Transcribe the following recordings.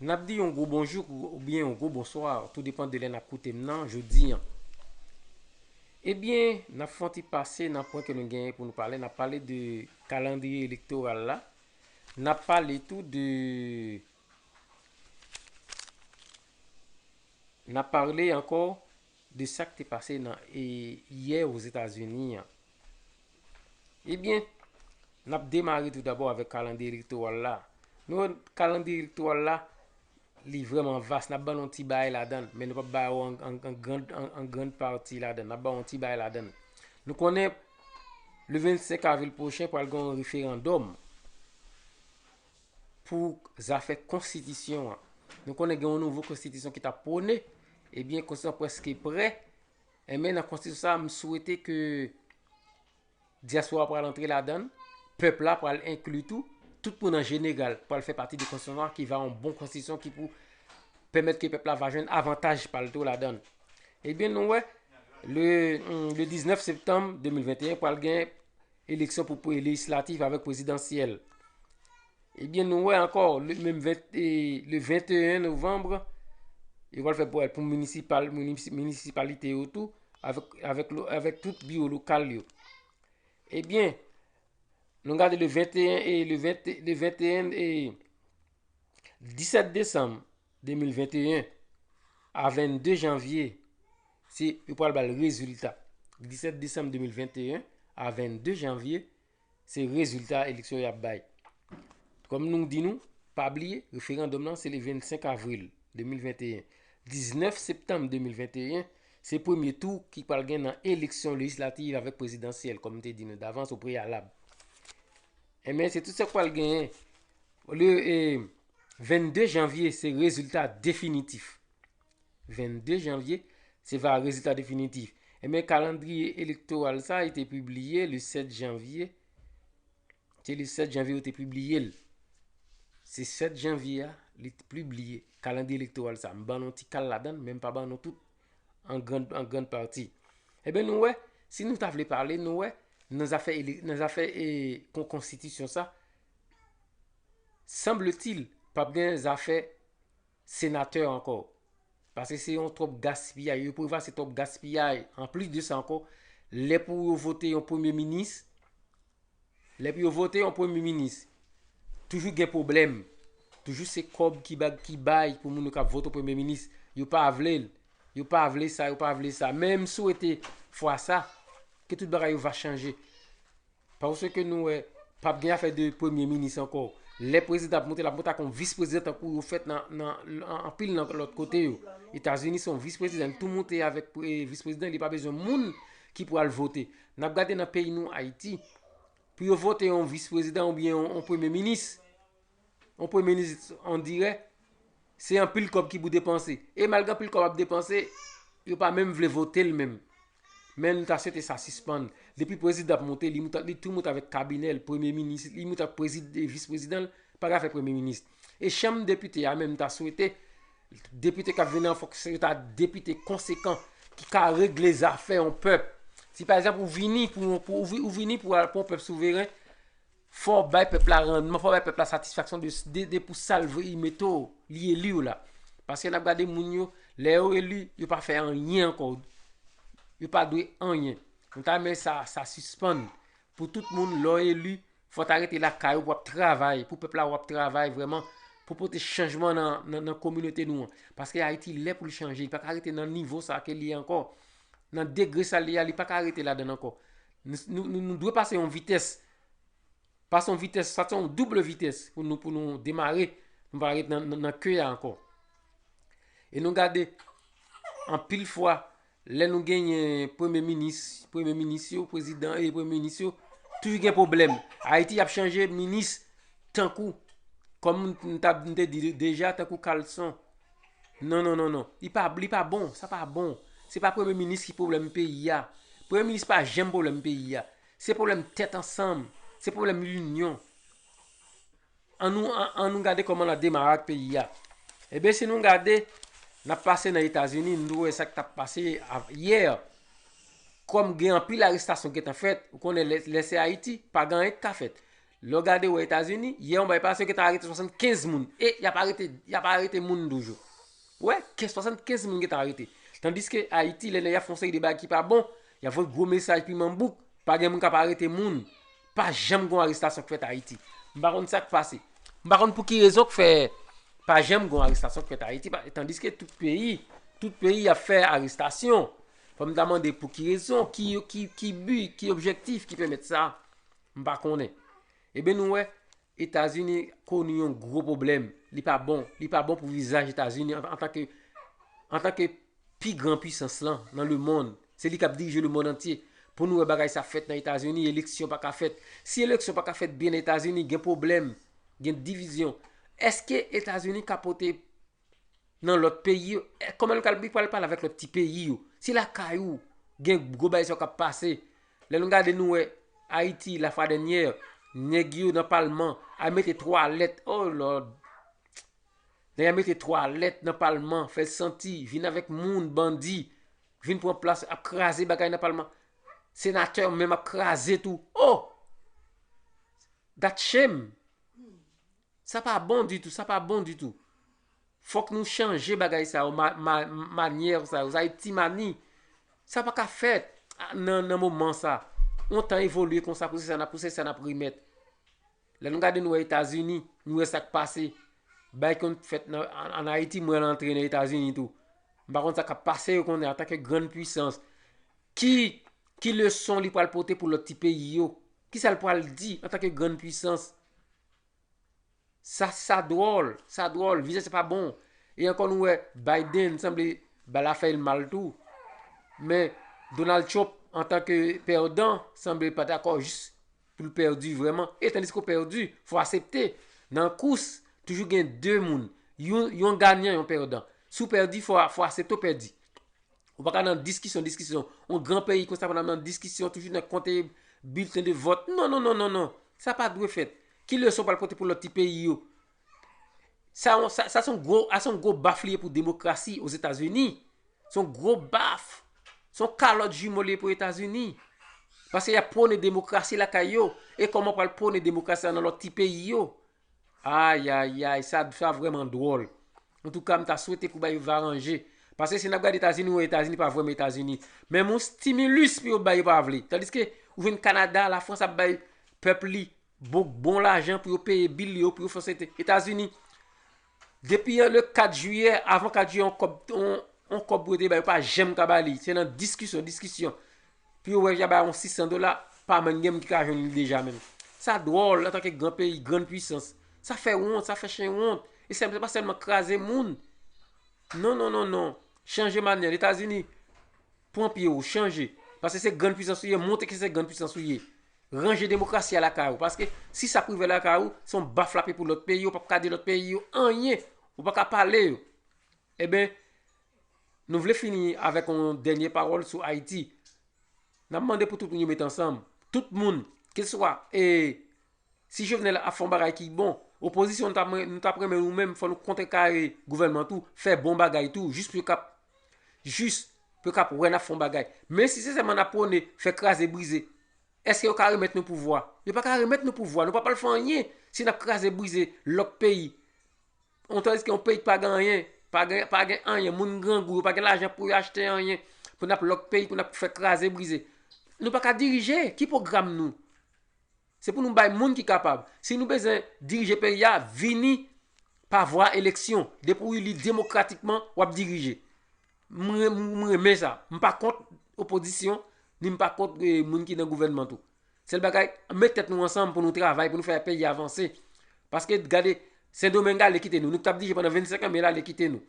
N ap di yon gwo bonjou oubyen yon gwo bonswa, tou depan de lè n ap koute m nan jodi an. Ebyen, n ap fè yon ti pase nan pwen ke nou genyen pou nou pale. N ap pale de kalandriye elektoral la. N ap pale tou de, n ap pale ankò de sak te pase nan yè Ozetazini an. Ebyen, n ap demare tou dabò avèk kalandriye elektoral la. Nou wè kalandriye elektoral la, li vrèman vas, n ap ban nou yon ti bagay ladan l, men nou p ap ba ou an grand pati ladan l, n ap ba ou yon ti bagay ladan l. Nou konnen le 25 avril pwochen pral gen yon referandòm. pou zafè konstitisyon an. Nou konnen gen yon nouvo konstitisyon ki tap pwone, ebyen konstitisyon an preske prè, enben nan konstitisyon sa a m swete ke dyaspora pral antre ladan l, pèp la pral enkli tou, tout moun an jeneral pral fè pati de konstitisyon sa a ki va yon bon konstitisyon ki pou pèmèt ke pèp la va jwenn avantaj pa l tou ladan l. Ebyen nou wè, le 19 septanm 2021 pral gen Eleksyon pou pre lejislatif avèk prezidansyèl. Ebyen nou wè ankò le 21 novembre, yo wèl fè pou municipalite yo tou, avèk tout biwo lokal yo. Ebyen, nou gade le 21 et le 21 et 17 décembre. 2021 a 22 janvye se yo pral bal rezilta 17 desanm 2021 a 22 janvye se rezilta eleksyon y ap bay kòm nou di nou pa bliye referandòm nan se le 25 avril 2021 19 septanm 2021 se premye tou ki pral gen nan eleksyon lejislativ avèk prezidansyèl kòm te di nou davans ou preyalab enben se tout sa k pral genyen ou lye e 22 janvye se rezilta definitif. 22 janvye se va rezilta definitif. Ebyen kalandriye elektoral sa e te pibliye le 7 janvye. Se le 7 janvye ou te pibliye l. Se 7 janvye a li te pibliye kalandriye elektoral sa. M ban nou ti kal ladan men m pa ban nou tout an gran pati. Ebyen nou wè, si nou ta vle pale nou wè nan zafè nan zafè e konkonstitisyon sa, Sanbletil pap gen zafè senatè ankò. Pase se yon twòp gaspiyay. Yo pweva se twòp gaspiyay. An plis de sa ankò, lè pou yo vote yon premye minis, lè pou yo vote yon premye minis, toujou gen pwoblèm. Toujou se kòb ki bag ki bay pou moun yo kap vote premye minis. Yo pa vle l. Yo pa vle sa, yo pa vle sa. Men m swete fwa sa, ke tout bagay yo va chanje. Paske nou wè pap gen afè de premye minis ankò. Lè prezidan ap monte, l ap monte ak yon vis prezidan tankou yo fèt nan anpil nan lòt kote yo. Etazini se yon vis prezidan, li tou monte avèk vis prezidan, li pa bezwen moun ki pou al vote. N ap gade nan peyi nou Ayiti, pou yo vote yon vis prezidan oubyen yon premye minis. On premye minis on dirè, se anpil kòb ki pou depanse. E malgre anpil kòb ap depanse, yo pa menm vle vote l menm. Men nou ta swete sa sispann. Depi prezidan ap monte, li monte li tou monte avèk kabinè l, premye minis li, li monte avèk prezi e vis prezidan l, pa gen afè premye minis. E chanm depite a menm m ta swete, depite k ap vini an fòk se yo ta depite konsekan ki ka regle zafè on pèp. Si pa egzanp ou vini pou on pou ou vini pou on pèp souveren, Fò w bay pèp la randman, fò w bay pèp la satisfaksyon de pou sa l vle li mete w, li eli w la. Paske n ap gade moun yo, lè yo eli, yo pa fè anyen ankò. Yo pa dwe anyen. Mwen ta renmen sa, sa sispann. Pou tout moun, lè w eli, fò w ta rete lakay ou pou w ap travay, pou pèp la wè w ap travay vrèman, pou w pote chanjman nan kominote nou an. Paske Ayiti lè pou l chanje, li pa ka rete nan nivo sa ke li ye ankò. Nan degre sa li ye a, li pa ka rete ladann ankò. Nou dwe pase yon vitès. Pase yon vitès, sa te yon double vitès pou nou pou nou demare. Nou pa ret nan ke ya ankon. E nou gade, an pil fwa, lè nou genyen premye minis, premye minis yo, prezidan e premye minis yo, toujou gen problem. Ayiti ap chanje minis tankou, kom nou te di deja, tankou kalson. Non non non non li pa li pa bon sa pa bon se pa premye minis ki problèm peyi a premye minis pa janm problèm peyi a se problèm tèt ansanm se problèm linyon an nou an nou gade kòman nan demare ak peyi a eben si nou gade nan pase nan etazini nou wè sak tap pase yè kòm gen anpil arestasyon ki gentan fèt ou konnen lè se ayiti pa gen anyen ki ka fèt Lè w gade wè Etazini, yè yon bay pase yo gentan arete 75 moun. E y ap arete, y ap arete moun toujou. Ou wè, 75 moun gentan arete. Tandiske Ayiti, lè nèg ap fè yon seri de bagay ki pa bon, y ap voye gwo mesaj piman bouk, pa gen moun k ap arete moun. Pa janm gen yon arestasyon k fèt Ayiti. M pa konn sa k pase. M pa konn pou ki rezon k fè pa janm gen yon arestasyon k fèt Ayiti. Tandiske tout peyi, tout peyi ap fè arestasyon. Fò m ta mande pou ki rezon, ki bi, ki objektif ki pèmèt sa. M pa konnen. Eben nou wè, Etazini koni yon gwo pwoblèm. Li pa bon. Li pa bon pou vizaj Etazini antanke antanke pi gran puisans lan nan lemonn. Se li k ap dirije lemonn antye. Pou nou wè bagay sa fèt nan Etazini, eleksyon pa ka fèt. Si eleksyon pa ka fèt byen nan Etazini, gen pwoblèm, gen divizyon. Èske Etazini ka pote Nan lot peyi yo eh koman nou kal li pral pale avek lot ti peyi yo se lakay ou gen gwo bagay sa yo kap pase lè nou gade nou wè ayiti la fwa dènyè nèg yo nan palman al mete twalèt oh lord nèg yo al mete twalèt nan palman fèl santi vin avèk moun bandi vin pran plas ap kraze bagay nan palman senatè menm ap kraze tou oh dat shame Sa pa bon ditou, sa pa bon ditou. Fòk nou chanje bagay sa yo, manyè sa yo, sa yo ti mani. Sa pa ka fèt nan moman sa. Yon tan evolye konsa pou se sa nap pou se sa nap remèt. Lè nou gade nou wè Etazini, nou wè sak pase. Bay konn fèt an Ayiti mwen antre nan Etazini tou. M pa konn sa kap pase yo konnen anta ke grann pwisans. Ki ki leson li pral pote pou lòt ti peyi yo? Ki sa l pral di anta ke grann pwisans? Sa sa dwòl, sa dwòl, vizaj sa pa bon. E ankò nou wè Biden sanble ba l afè l mal tou. Men Donald Trump antan ke pèdan sanble pa dakò jis pou l pèdi vrèman. E tandis ke w pèdi, fò w asepte. Nan kous, toujou gen 2 moun. Yon ganyan, yon pèdan. Si w pèdi, fò w asepte w pèdi. Ou pa ka nan diskisyon, diskisyon. On gran peyi kon sa pa nan diskisyon, toujou nan konte bilten de vòt. Non, non, non, non, non. Sa pa dwe fèt. Ki leson pral pote pou lòt ti peyi yo? Sa son gwo, sa son gwo baf li ye pou demokrasi o Zetazini. Son gwo baf. Son kalòt jimo li ye pou Etazini. Paske y ap pwone demokrasi lakay yo. E kòman pral pwone demokrasi sa nan lòt ti peyi yo? Ayayay sa sa vrèman dwòl Antouka m ta swete pou bagay yo va ranje Paske si n ap gade Etazini ou wè Etazini pa vrèman Etazini Menm yon stimulus pou yo bay yo pa vle Tandiske ou jwenn Kanada Lafrans ap bay pèp li bon lajan pou yo peye bil yo pou yo fè sèten Etazini Depi yon le 4 jiyè, avan 4 jiyè yon kòb, yon kòb pou yo te bay, yo pa janm ka ba li. Se nan diskisyon, diskisyon. Pou yo wè ja ba yon 600 dola, pa menm gen moun ki ka jwenn li deja menm. Sa dwòl, antan ke gran peyi, grann pwisans. Sa fè wont, sa fè chen wont. E se pa sèlman kraze moun. Non, non, non, non. Chanje manyèl. Etazini, pran pye ou, chanje. Pase se grann pwisans ou ye, montre ke se grann pwisans ou ye. Ranje demokrasi a lakay ou. Paske si sa ap rive lakay ou, se yon baf l ap ye pou lòt peyi, ou pap ka di lòt peyi yo anyen, ou pa ka pale yo. Eben, nou vle fini avèk yon dènye pawòl sou Ayiti. N ap mande pou tout moun yo met ansanm. Tout moun, keseswa e, si Jovenel ap fè yon bagay ki bon, opozisyon nou ta mwen, nou ta renmen nou menm fò nou kontrekare gouvènman tou, fè bon bagay tou, jis pou yo kap, jis pou yo kap wè n ap fè yon bagay. Men si se sèlman n ap pwone fè kraze brize, Eske yo ka remèt nou pouvwa? Yo pa ka remèt nou pouvwa. Nou pa pral fè anyen si n ap kraze brize lòt peyi. Yon tandis ke yon peyi ki pa gen anyen, pa gen anyen, moun grangou, yo pa gen lajan pou yo achte anyen, pou n ap lòt peyi, pou n ap fè kraze brize. Nou pa ka dirije. Ki pwogram nou? Se pou nou bay moun ki kapab. Si nou bezwen dirije peyi a, vini pa vwa eleksyon. Depi w ili demokratikman, w ap dirije. M renmen sa. M pa kont opozisyon, ni m pa kont moun ki nan gouvènman tou. Sèl bagay, an met tèt nou ansanm pou nou travay, pou nou fè peyi a vanse. Paske gade, Sendomeng ale kite nou. Nou k t ap dirije pandan 25 an men l ale kite nou.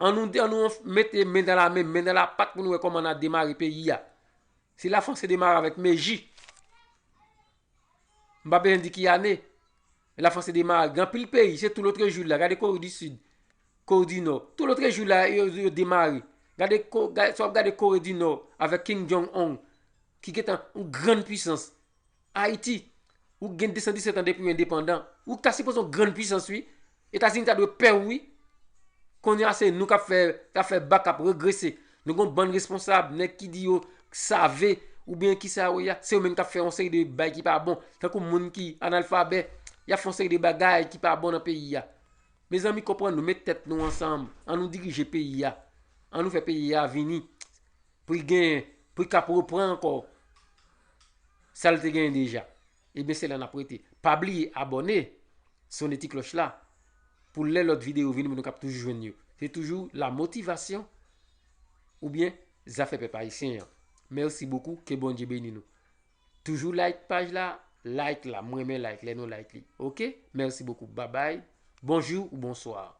An nou an nou mete men dan la men, men dan la pat pou nou wè kòman n a demare peyi a. Si la Franse demare avèk Meji. M pa bezwen di ki ane. E la France demare. Gen anpil peyi. Se tou lotre jou la. Gade Kore di Sid. Kore di Nò. Tou lotre jou la yo demare. Gade, sa wap gade Kore di Nò avèk King Jong Ong. Ki gen tan yon grann pwisans. Ayiti. Ou gen 217 an depi ou endepandan. Ou ta sipoze yon grann pwisans wi. Etazini ta dwe pè wi. Konnya se nou kap fè kap fè bak kap regrese. Nou gon bann responsab, nèg ki di yo save oubyen kisa yo ye a, se yo menm kap fè yon seri de bay ki pa bon. Tankou moun ki analfabè, yap fè yon seri de bagay ki pa bon nan peyi a. Mezanmi konprann nou, met tèt nou ansanm, an nou dirije peyi a. An nou fè peyi a vini pou li gen pou li kap repran ankò sa li te genyen deja. Ebyen se la nap rete. Pa bliye abòne, sone ti klòch la pou lè lòt videyo vini pou nou kap toujou jwenn yo. Se toujou la motivation oubyen zafè pèp ayisyen an. Merci beaucoup ke Bondye beni nou. Toujou like paj la, like la, m renmen like lè nou like li ok merci beaucoup babay bonjour ou bonsoir.